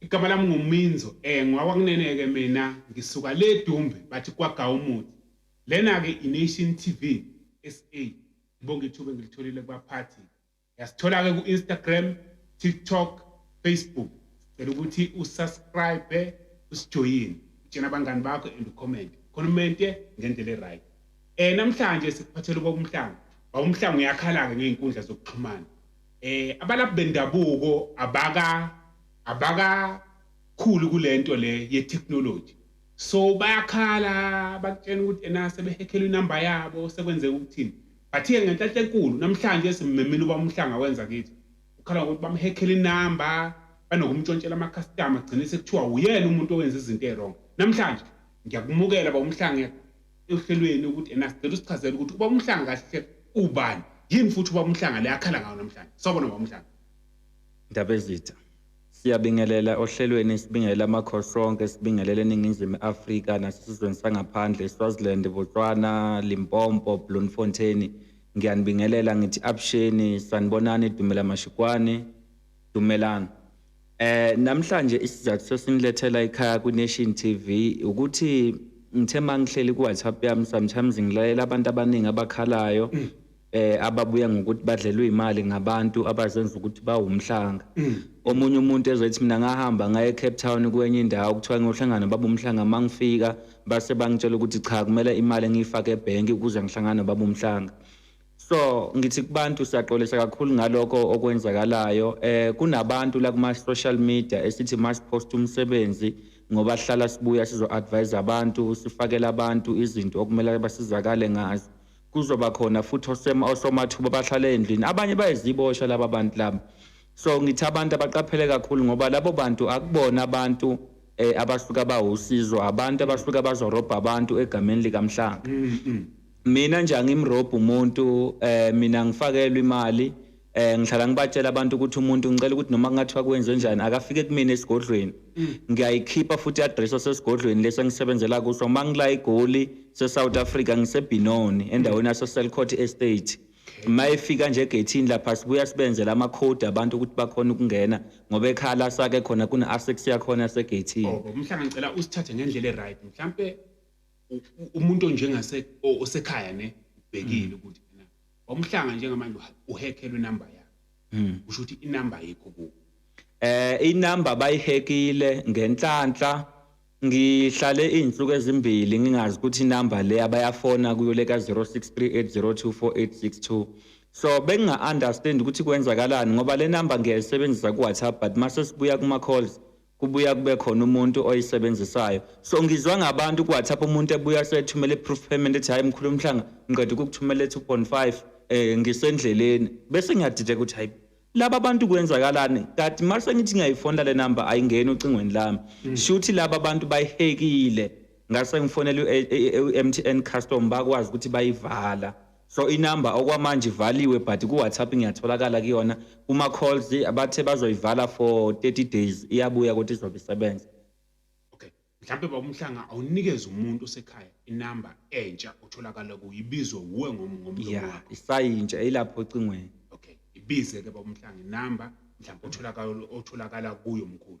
Igama lami ngu Minzo eh ngwakwakunene ke mina ngisuka le Dumbe bathi kwaga umuthi lena ke i Nation TV SA ngibonga ithuba engilitholile kubaphathi yasithola ke ku Instagram TikTok Facebook sicela ukuthi u subscribe usijoyine utshena abangani bakho and ucomment khona umente ngendlela eright eh namhlanje sikuphathela ubaba umhlanga baba umhlanga uyakhala ke ngeenkundla zokuxhumana eh abalaphi bendabuko abaka abaka khulu kulento le ye technology so bayakhala bakutshena ukuthi ena sebehekhela inamba yabo sekwenzeka ukuthini but ke ngenhlanhla enkulu namhlanje simemile uba umhlanga wenza kithi ukhala ngokuthi bamhekhela inamba banokumtshontshela amakhastama gcine sekuthiwa uyena umuntu owenza izinto erongo namhlanje ngiyakumukela ba umhlanga ehlelweni ukuthi ena sicela usichazele ukuthi uba umhlanga kahle ubani yini futhi uba umhlanga le akhala ngayo namhlanje sawubona uba umhlanga ndabezitha siyabingelela ohlelweni sibingelela amakhosi onke sibingelela eningizimu afrika nasesizweni sangaphandle swaziland botswana limpompo bloemfontein ngiyanibingelela ngithi absheni sanibonani dumela mashikwane dumelani Eh namhlanje isizathu sosinilethela ekhaya ku Nation TV ukuthi ngithe mangihleli ku WhatsApp yami sometimes ngilalela abantu abaningi abakhalayo mm. eh ababuya ngokuthi badlelwe imali ngabantu abazenza ukuthi bawumhlanga mm. omunye umuntu ezothi mina ngahamba ngaye Cape Town kwenye indawo kuthiwa ngiyohlangana babumhlanga mangifika base bangitshela ukuthi cha kumele imali ngiyifake ebank ukuze ngihlangane babumhlanga So ngithi kubantu siyaxolisa kakhulu ngalokho okwenzakalayo eh kunabantu la kuma social media esithi must post umsebenzi ngoba sihlala sibuya sizo advise abantu sifakela abantu izinto okumele basizakale ngazo kuzoba khona futhi osema osomathuba bahlala endlini abanye bayizibosha laba bantu laba so ngithi abantu abaqaphele kakhulu ngoba labo bantu akubona abantu eh abasuka bawusizo abantu abasuka bazorobha abantu egameni likamhlanga mm, mm. mina nje angimrobhi umuntu eh mina ngifakelwe imali eh ngihlala ngibatshela abantu ukuthi umuntu ngicela ukuthi noma kungathiwa kwenze njani akafike kumina esigodlweni mm. ngiyayikhipha futhi i-address osesigodlweni lesi engisebenzela kuso uma ngila igoli se-south africa ngisebhinoni endaweni yasoselcot estate uma efika nje egethini lapha sibuya sibenzela amakhodi abantu ukuthi bakhona ukungena ngoba ekhala sake khona kune-asex yakhona segethini oh, mhlawumbe ngicela usithathe ngendlela e-right mhlawumpe umuntu onjengase osekhaya ne ubhekile mm. ukuthi na wamhlanga njengamanje uhekhelwe inamba yakhe mm. usho ukuthi inamba yekho ku eh inamba bayihekile ngenhlanhla ngihlale izinsuku ezimbili ngingazi ukuthi inamba le abayafona kuyo le ka 0638024862 so benginga understand ukuthi kwenzakalani ngoba le number ngiyayisebenzisa ku WhatsApp but mase sibuya kuma calls kubuya kube khona umuntu oyisebenzisayo so ngizwa ngabantu kuwhatsapp umuntu ebuya sethumela i-proof payment ethi hhayi mkhulu umhlanga ngiqeda ukukuthumela two point five um eh, ngisendleleni bese ngiyadideka ukuthi hhayi laba bantu kwenzakalani kati uma sengithi ngiyayifonela le number ayingeni ocingweni lami mm. shuthi laba bantu bayihekile ngase ngifonela u-m t n custom bakwazi ukuthi bayivala so inamba okwamanje ivaliwe but ku-whatsapp ngiyatholakala kuyona uma calls bathe bazoyivala for 30 days iyabuya ukuthi izobe isebenza okay mhlawumbe babumhlanga awunikeze umuntu osekhaya inamba entsha otholakala kuyo ibizwe wuwe ngomlomo yeah, wakho isayintsha ilapho ocingweni okay ibize-ke babumhlanga inamba mhlawumbe otholakala kuyo mkhulu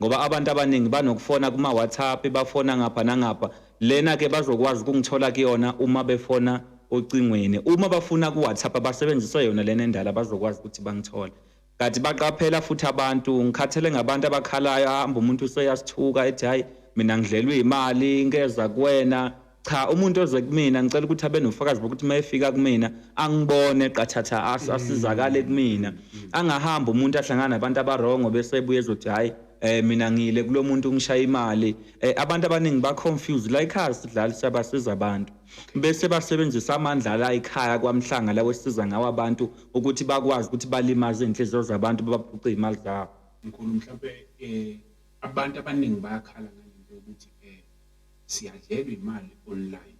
ngoba abantu abaningi banokufona kuma-whatsapp bafona ngapha nangapha lena-ke bazokwazi ukungithola kuyona uma befona ocingweni uma bafuna ku-whatsapp abasebenzise yona lena endala bazokwazi ukuthi bangithole kanti baqaphela futhi abantu ngikhathele ngabantu abakhalayo ahamba umuntu useyasithuka ethi hhayi mina ngidlelwe imali ngeza kuwena cha umuntu oze kumina ngicela ukuthi abe nofakazi bokuthi uma efika kumina angibone qathatha as- Mm. asizakale kumina angahambi umuntu ahlangana nabantu abarongo bese ebuye ezothi hhayi um mina ngile kulo muntu ungishaya imali um abantu abaningi ba-confused la ekhaya sidlali siyabasiza abantu bese basebenzisa amandla la ekhaya kwamhlanga lawo esiza ngawo abantu ukuthi bakwazi ukuthi balimaze iy'nhliziyo zabantu babaphuce iy'mali zabo mkhulu mhlawumbe um abantu abaningi bayakhala ngalento yokuthi um siyadlelwa imali online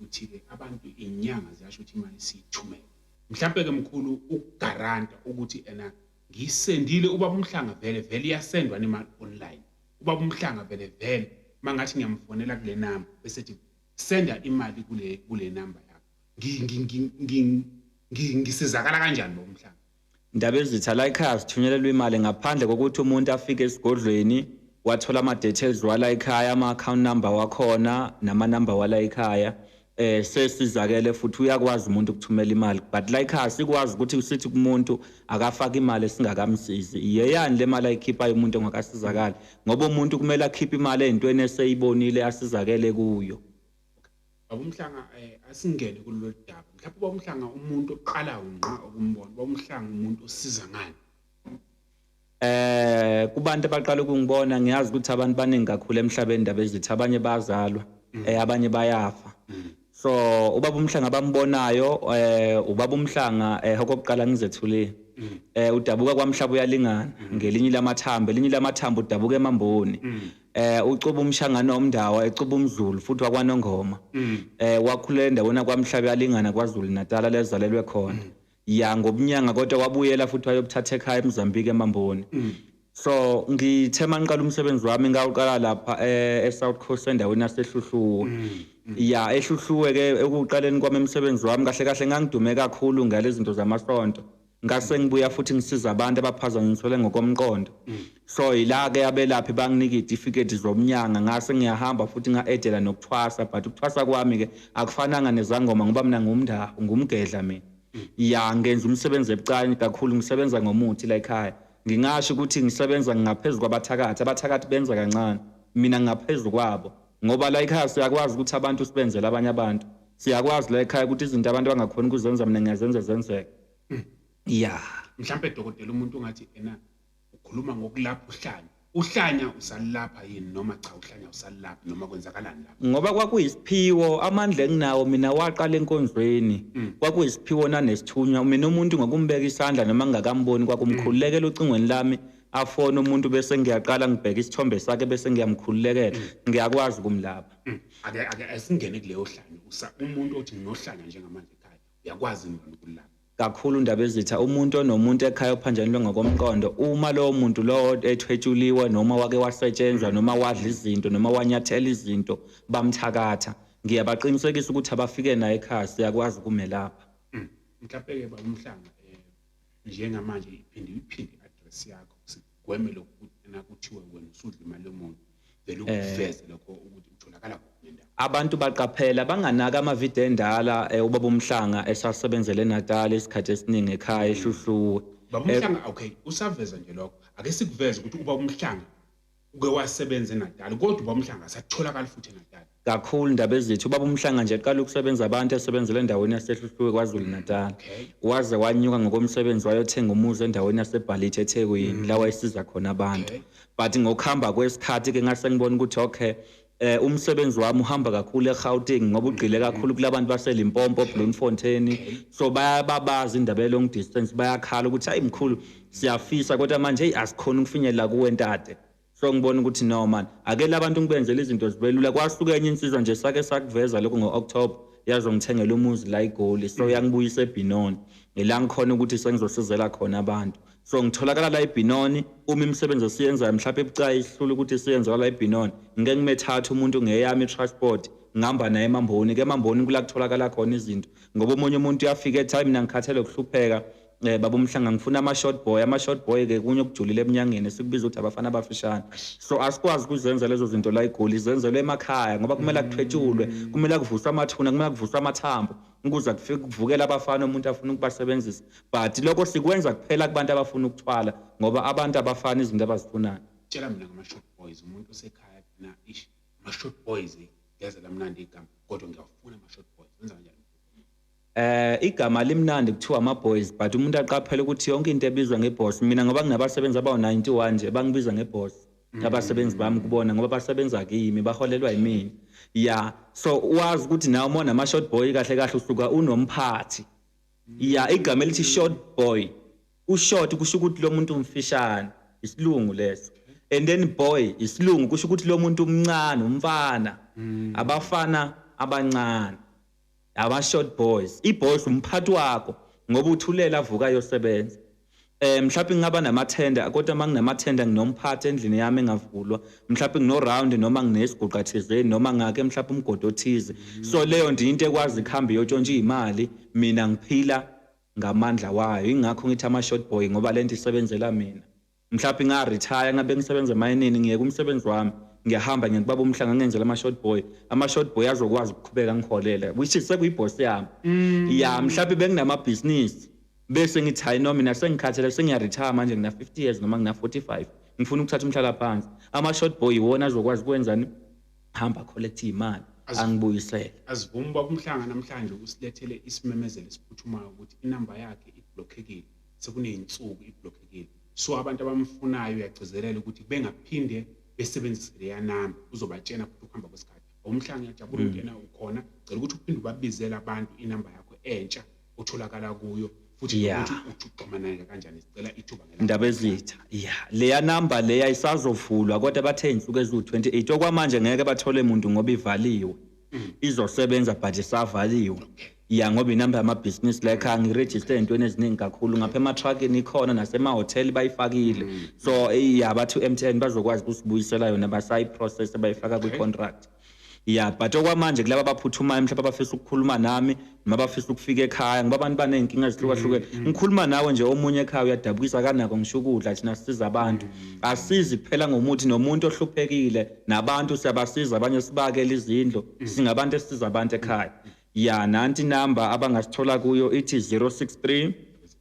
uthike abantu inyanga ziyasho ukuthi imali siyithumele mhlampe ke mkhulu ukugaranta ukuthi ena ngisendile ubaba umhlanga vele vele iyasendwa nemali online ubaba umhlanga vele vele mangathi ngiyamfonela kule number bese thi senda imali kule kule number yakho ngisizakala kanjani lo mhlanga Ndabezitha, La ekhaya sithunyelelwa imali ngaphandle kokuthi umuntu afike esigodlweni wathola ama-details wala ekhaya ama-account number wakhona nama-number wala ekhaya eh sesizakele futhi uyakwazi umuntu ukuthumela imali but la ekhaya sikwazi ukuthi usithi kumuntu akafaka imali esingakamsizi iyeyani le mali ayikhiphayo umuntu ongakasizakali ngoba umuntu kumele akhiphe imali ezintweni eseyibonile asizakele kuyo Baba uMhlanga eh, asingene kulolu daba mhlawumbe uba uMhlanga umuntu oqala ngqa ukumbona uba uMhlanga umuntu osiza ngani eh kubantu abaqala ukungibona ngiyazi ukuthi abantu baningi kakhulu emhlabeni indaba ezithi abanye bazalwa mm. eh abanye bayafa mm. so ubaba umhlanga abambonayo eh ubaba umhlanga eh okokuqala ngizethulile mm. eh udabuka kwamhlaba uyalingana ngelinye lamathambo elinye lamathambo udabuka emamboni eh ucuba umshangano omndawo ecuba umdlulu futhi wakwanongoma mm. eh wakhulela endaweni kwamhlabe yalingana kwaZulu Natal lezalelwe khona mm. ya ngobunyanga kodwa wabuyela futhi wayobuthatha ekhaya eMozambique eMamboni mm. so ngithe mangiqala umsebenzi wami ngawuqala lapha eh, eSouth Coast endaweni yaseHluhluwe ya eHluhluwe ke ekuqaleni kwami umsebenzi wami kahle kahle ngangidume kakhulu ngale zinto zamasonto ngase ngibuya futhi ngisiza abantu abaphazanyiswele ngokomqondo so yila-ke abelaphi banginika iy'tifiketi zomnyanga ngase ngiyahamba futhi nga-edela nokuthwasa but ukuthwasa kwami-ke akufananga nezangoma ngoba mina ngumndaho ngumgedla mina ya ngenza umsebenzi ebucane kakhulu ngisebenza ngomuthi la ekhaya ngingasho ukuthi ngisebenza ngingaphezu kwabathakathi abathakathi benza kancane mina ngingaphezu kwabo ngoba la ekhaya siyakwazi ukuthi abantu sibenzele abanye abantu siyakwazi la ekhaya ukuthi izinto abantu bangakhona ukuzenza mina ngiyazenza zenzeke hmm. ya mhlawumbe dokotela umuntu ungathi ena ukhuluma ngokulapha uhlanya uhlanya usalapha yini noma cha uhlanya usalapha noma kwenzakalani lapha ngoba kwakuyisiphiwo amandla enginawo mina waqala enkonzweni hmm. kwakuyisiphiwo nanesithunywa mina umuntu ngokumbeka isandla noma ngingakamboni kwakumkhululekela ocingweni lami afone umuntu bese ngiyaqala ngibheka isithombe sakhe bese ngiyamkhululekela mm. ngiyakwazi ukumlapha mm. ake ake asingene kuleyo hlanya usa umuntu othi nginohlanya njengamanje ekhaya uyakwazi ukulapha kakhulu indaba ezitha umuntu onomuntu ekhaya ophanjanelwe ngokomqondo uma lowo muntu lowo ethwetshuliwe noma wake wasetshenzwa noma wadla izinto noma wanyathela izinto bamthakatha ngiyabaqinisekisa ukuthi abafike naye ekhaya siyakwazi ukumelapha mm. mhlawumbe-ke ba umhlanga um eh, njengamanje iphinde iphinde i-address yakho sigweme lokhu ukuthi ena kuthiwe wena usudla imali yomuntu vele eh. ukuveze lokho ukuthi utholakala kuphi nendawo abantu baqaphela banganaka amavidiyo endala eh, ubaba umhlanga esasebenzele enatal isikhathi esiningi ekhaya mm. ehluhluwe baba umhlanga eh, okay usaveza nje lokho ake sikuveze ukuthi ubaba umhlanga uke wasebenza eNatal kodwa uba umhlanga asatholakali futhi eNatal kakhulu indaba ezithi ubaba umhlanga nje qala ukusebenza abantu esebenzela endaweni yasehluhluwe KwaZulu Natal waze wanyuka ngokomsebenzi wayothenga umuzi endaweni yasebhalithi eThekwini mm. lawa esiza khona abantu but ngokuhamba kwesikhathi ke ngase ngibona ukuthi okay eh umsebenzi wami uhamba kakhulu eGauteng ngoba ugqile mm-hmm. kakhulu kulabantu baseLimpopo Bloemfontein so bayababaza indaba long distance bayakhala ukuthi hayi mkhulu siyafisa kodwa manje hey asikhona ukufinyelela kuwe ntate so ngibona ukuthi no man ake labantu ngibenzele izinto zibelula kwasuka enye insizwa nje sake sakuveza lokho ngo-october yazongithengela umuzi la igoli so mm-hmm. yangibuyisa ebhinoni ngilangikhona ukuthi sengizosizela khona abantu so ngitholakala la eBinoni uma imisebenzi esiyenzayo mhlawumbe ebucayi ihlula ukuthi isiyenziwa la eBinoni ngike ngimethatha umuntu ngeyami transport ngihamba naye emamboni ke emamboni kula kutholakala khona izinto ngoba omunye umuntu uyafika ethi hayi mina ngikhathele ukuhlupheka um eh, baba umhlanga ngifuna ama-short boy ama-short boy ke kunye okujulile eminyangeni sikubiza ukuthi abafana abafishane so asikwazi ukuzenza lezo zinto la igoli zenzelwe emakhaya ngoba kumele kuthwetshulwe kumele kuvuswe amathuna kumele kuvuswe amathambo Ngikuzwa kufika kuvukela abafana umuntu afuna ukubasebenzisa but lokho sikwenza kuphela kubantu abafuna ukuthwala ngoba abantu abafana izinto abazifunayo. Tshela mina ngama-short boys umuntu osekhaya na ish ama-short boys eh, ngeze lamnandi igama kodwa ngiyawafuna ama-short boys wenza kanjani Eh igama limnandi kuthiwa ama boys but umuntu aqaphela ukuthi yonke into ebizwa ngeboss mina ngoba nginabasebenzi abawu 91 nje bangibiza ngeboss mm. abasebenzi bami kubona ngoba basebenza kimi baholelwa yimina ya so wazi ukuthi nawe uma nama-short boy kahle kahle usuka unomphathi ya igama elithi short boy ushort kusho ukuthi lo muntu umfishane isilungu leso and then boy isilungu kusho ukuthi lo muntu umncane umfana mm. abafana abancane aba short boys iboys umphathi wakho ngoba uthulela avuka yosebenza eh mhlawumbe ngingaba namathenda kodwa uma nginamathenda nginomphathi endlini yami engavulwa mhlawumbe ngino-round noma nginesiguqa thizeni noma ngake mhlawumbe umgodi othize so leyo nto into ekwazi kuhambe iyotshontsha iy'mali mina ngiphila ngamandla wayo ingakho ngithi ama-short boy ngoba le nto isebenzela mina mhlawumbe nga retire ngabe ngisebenza emayinini ngiyeke umsebenzi wami ngiyahamba ngiye kubaba umhlanga ngenzela ama short boy ama short boy azokwazi ukuqhubeka ngiholele which is sekuyi boss yami mm. ya mhlawumbe benginama business bese ngithi hayi noma mina sengikhathele sengiya retire manje ngina 50 years noma ngina 45 ngifuna ukuthatha umhlala phansi ama short boy iwona azokwazi kwenzani hamba collect imali angibuyisele asivumi babumhlanga namhlanje usilethele isimemezelo esiphuthumayo ukuthi inamba yakhe iblockekile sekuney'nsuku ibhlokhekile so abantu abamfunayo uyagcizelela ukuthi bengaphinde besebenzise leya namba uzobatshena futhi ukuhamba kwesikhathi awumhlanga uyajabula mm. ungena ukhona cela ukuthi uphinde ubabizele abantu inamba yakho entsha otholakala kuyo futhi ukuthi uxhumaneke kanjani sicela ithuba ndaba ezitha ya leya namba leya isazovulwa kodwa bathe insuku eziwu-28 okwamanje ngeke bathole muntu ngoba ivaliwe izosebenza but isavaliwe ya ngoba inamba yamabhizinisi la ekhaya ngirejiste entweni eziningi kakhulu ngapha ematruckini ikhona nasemahhoteli bayifakile mm. so ya bathi u-m t n bazokwazi ukusibuyisela yona basayiprocess bayifaka kwi-contract ya but okwamanje kulaba abaphuthumayo mhlawumbe abafisa ukukhuluma nami noma bafisa ukufika ekhaya ngoba abantu baney'nkinga ezihlukahlukene mm, mm. ngikhuluma nawe nje omunye ekhaya uyadabukisa kanako ngisho ukudla thina sisiza abantu mm, asizi kuphela ngomuthi nomuntu ohluphekile nabantu siyabasiza abanye sibakele izindlu singabantu esisiza abantu ekhaya ya nanti inamba abangasithola kuyo ithi 063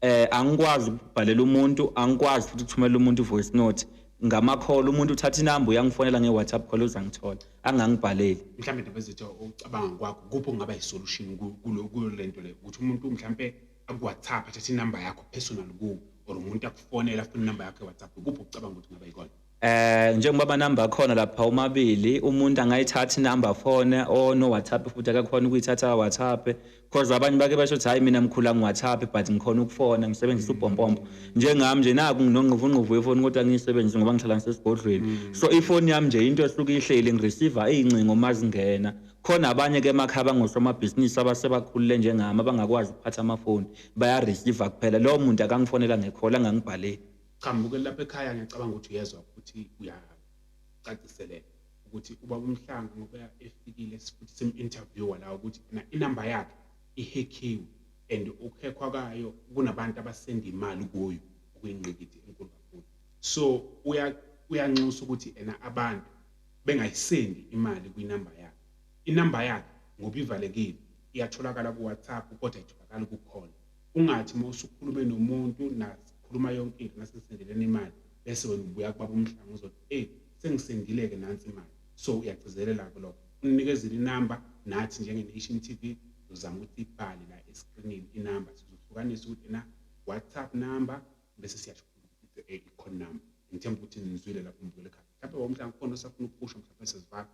eh angikwazi ukubhalela umuntu angikwazi futhi ukuthumela umuntu voice note ngama call umuntu uthatha inamba uyangifonela nge WhatsApp call uzangithola angangibhaleli mhlawumbe indaba ezithi ucabanga kwakho kuphi kungaba isolution kulo lento le ukuthi umuntu mhlawumbe aku WhatsApp athatha inamba yakho personal ku or umuntu akufonela afuna inamba yakho e WhatsApp kuphi ucabanga ukuthi kungaba ikona Eh njengoba ama number akhona lapha umabili umuntu angayithatha number phone or no WhatsApp futhi akakhona ukuyithatha WhatsApp because abanye bake basho ukuthi hayi mina mkhula ngi WhatsApp but ngikhona ukufona ngisebenzisa mm. ubhompompo njengami nje naku nginongquvu ngquvu yefoni kodwa ngiyisebenzisa ngoba ngihlala ngisesigodlweni mm. so ifoni yami nje into esuke ihleli ngireceiver izincingo uma zingena khona abanye ke emakhaya bangosomabhizinisi abasebakhulule njengami abangakwazi ukuphatha amafoni bayareceiver kuphela lowo muntu akangifonela ngekhola angangibhaleli Cha mbukeli lapha ekhaya ngiyacabanga ukuthi uyezwa ukuthi uyacaciseleka ukuthi uba umhlanga ngoba efikile futhi simu-interviewer la ukuthi na inamba yakhe ihekhiwe and ukukhekhwa kayo kunabantu abasenda imali kuyo okuyingqikithi enkulu kakhulu so uyanxusa ukuthi ena abantu bengayisendi imali kwinamba yakhe inamba yakhe ngoba ivalekile iyatholakala kuwhatsapp kodwa itholakala kukhona ungathi uma usukhulume nomuntu nakhuluma yonke into nasengisendeleni imali bese wena ubuya kubaba umhlanga uzothi eyi sengisendile-ke nansi imali so uyagcizelela-ke lokho unikezile inamba nathi njenge-nation t v uzama ukuthi ibhale la eskrinini inamba sizohlukanisa ukuthi na whatsapp number bese siyasho ukuthi eh, i-con number ngithemba ukuthi nizwile lapho mbukele khaya mhlawumbe womhlanga khona osafuna ukukusho mhlawumbe sezivaka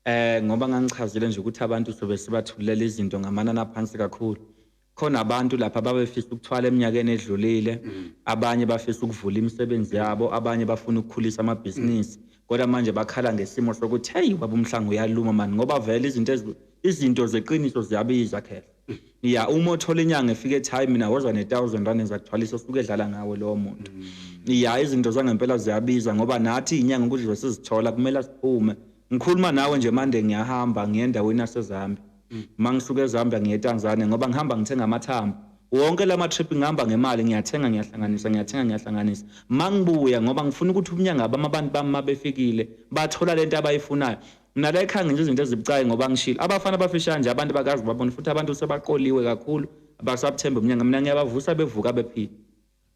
Eh ngoba ngangichazile nje ukuthi abantu sobe sibathulela izinto ngamanani aphansi kakhulu. Khona abantu lapha babefisa ukuthwala eminyakeni edlulile, mm. abanye bafisa ukuvula imisebenzi yabo, abanye bafuna ukukhulisa amabhizinisi. Mm. Kodwa manje bakhala ngesimo sokuthi hey baba umhlanga uyaluma mani ngoba vele izinto izinto zeqiniso ziyabiza khehla. ya uma othola inyanga efika ethi hayi mina woza ne-thousand rand ezakuthwalisa osuke edlala ngawe lowo muntu ya izinto zangempela ziyabiza ngoba nathi inyanga ukudliwe sizithola kumele siphume ngikhuluma nawe nje mande ngiyahamba ngiye endaweni yasezambia uma ngisuke ezambia ngiye etanzania ngoba ngihamba ngithenga amathambo wonke la matrip ngihamba ngemali ngiyathenga ngiyahlanganisa ngiyathenga ngiyahlanganisa uma ngibuya ngoba ngifuna ukuthi ubunyanga bami abantu bami uma befikile bathola le nto abayifunayo Mina la ekhaya ngenza izinto ezibucayi ngoba ngishilo. Abafana abafishane nje abantu bakazi babona futhi abantu sebaqoliwe kakhulu abasabuthembe umnyanga. Mina ngiyabavusa bevuka bephila.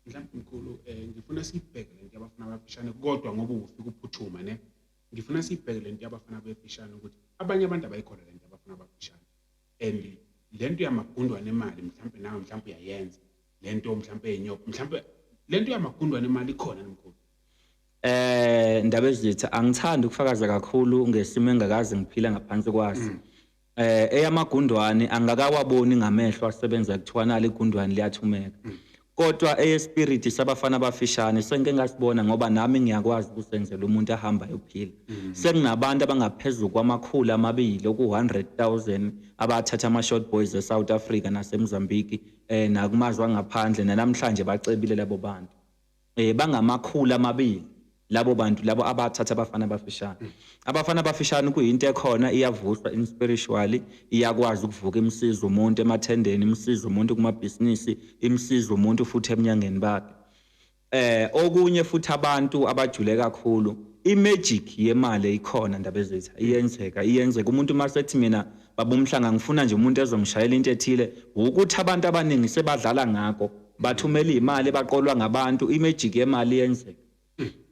Mhlawumbe mkhulu eh ngifuna sibheke lento yabafana abafishane kodwa ngoba ufika uphuthuma ne. Ngifuna sibheke lento yabafana abafishane ukuthi abanye abantu abayikhola lento yabafana abafishane. And lento yamagundwane emali mhlawumbe nawe mhlawumbe uyayenza. Lento mhlawumbe enyoko mhlawumbe lento yamagundwane emali ikhona mkhulu. eh ndaba ezitha angithandi ukufakaza kakhulu ngesimo engakazi ngiphila ngaphansi kwaso mm. eh eyamagundwane angakawaboni ngamehlo asebenza kuthiwana ligundwane liyathumeka mm. kodwa eyespirit sabafana abafishane sengike ngasibona ngoba nami ngiyakwazi ukusenzela umuntu ahamba yophila mm. sekunabantu abangaphezulu kwamakhulu amabili oku 100000 abathatha ama short boys e South Africa naseMozambique eh nakumazwe angaphandle namhlanje bacebile labo bantu eh bangamakhulu amabili labo bantu labo abathatha abafana abafishane mm. abafana abafishane kuyinto ekhona iyavuhlwa in spiritually iyakwazi ukuvuka imsiza umuntu emathendeni imsiza umuntu kumabhizinisi imsiza umuntu futhi eminyangeni bakhe eh okunye futhi abantu abajule kakhulu imagic yemali eyikhona ndaba ezethu iyenzeka iyenzeka umuntu uma sethi mina babumhlanga ngifuna nje umuntu ezongishayela into ethile ukuthi abantu abaningi sebadlala ngako bathumela imali baqolwa ngabantu imagic yemali yenzeka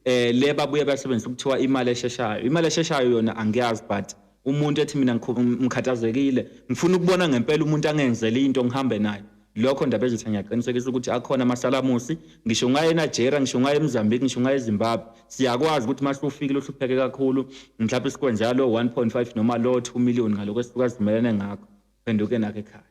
eh le babuye basebenzisa ukuthiwa imali esheshayo imali esheshayo yona angiyazi but umuntu ethi mina ngikhathazekile ngifuna ukubona ngempela umuntu angenzele into ngihambe naye lokho ndaba ezitha ngiyaqinisekisa ukuthi akhona amasalamusi ngisho ungaye eNigeria ngisho ungaye eMozambique ngisho ungaye eZimbabwe siyakwazi ukuthi mase ufikile uhlupheke kakhulu mhlawumbe sikwenza lo 1.5 noma lo 2 million ngaloko esifika simelene ngakho phenduke nakhe ekhaya